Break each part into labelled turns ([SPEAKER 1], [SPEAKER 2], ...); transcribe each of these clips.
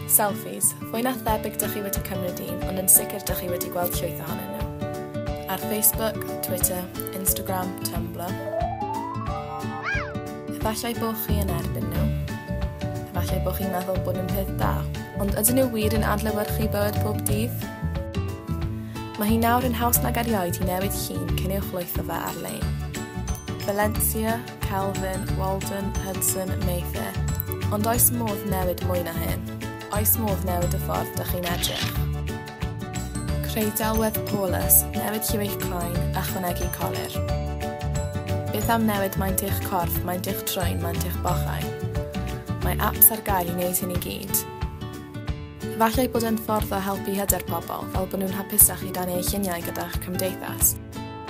[SPEAKER 1] Selfies, fwy na thebyg dych chi wedi cymryd un, ond yn sicr dych chi wedi gweld llwyth ohonyn nhw. Ar Facebook, Twitter, Instagram, Tumblr. Efallai bod chi yn erbyn nhw. Efallai bod chi'n meddwl bod nhw'n peth da. Ond ydyn nhw wir yn adlewyrchu bywyd pob dydd? Mae hi nawr yn haws nag erioed i newid llun cyn ei chwytho fe ar-lein. Valencia, Kelvin, Walden, Hudson, Mayfair. Ond oes modd newid mwy na hyn? Oes modd newid y ffordd dych chi'n edrych? Creu delwedd Paulus, newid lliw eich croen, ychwanegu colir. Beth am newid maint eich corff, maint eich troen, maint eich bochau? Mae apps ar gael i wneud hyn i gyd. Falle ei bod e'n ffordd o helpu hyder pobl fel bod nhw'n hapusach i rannu eu lluniau gyda'ch cymdeithas.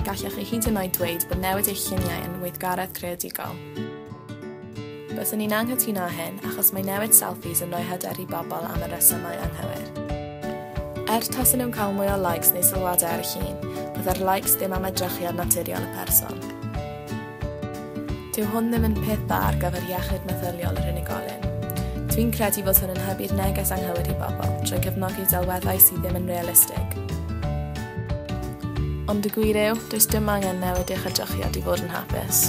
[SPEAKER 1] Gallech chi hyd yn oed dweud bod newid eich lluniau yn weithgaredd creadigol. Byddwn i'n anghytuno â hyn achos mae newid selfies yn rhoi hyder i bobl am y rhesymau anghywir. Er tasen nhw'n cael mwy o likes neu sylwadau ar y llun, byddai'r likes ddim am edrychiad naturiol y person. Dyw hwn ddim yn peth dda ar gyfer iechyd meddyliol yr unigolyn. Dwi'n credu fod hwn yn hybu'r neges anghywir i bobl, trwy gefnogi delweddau sydd ddim yn realistig. Ond y gwir yw, does dim angen newid eich edrychiad i fod yn hapus.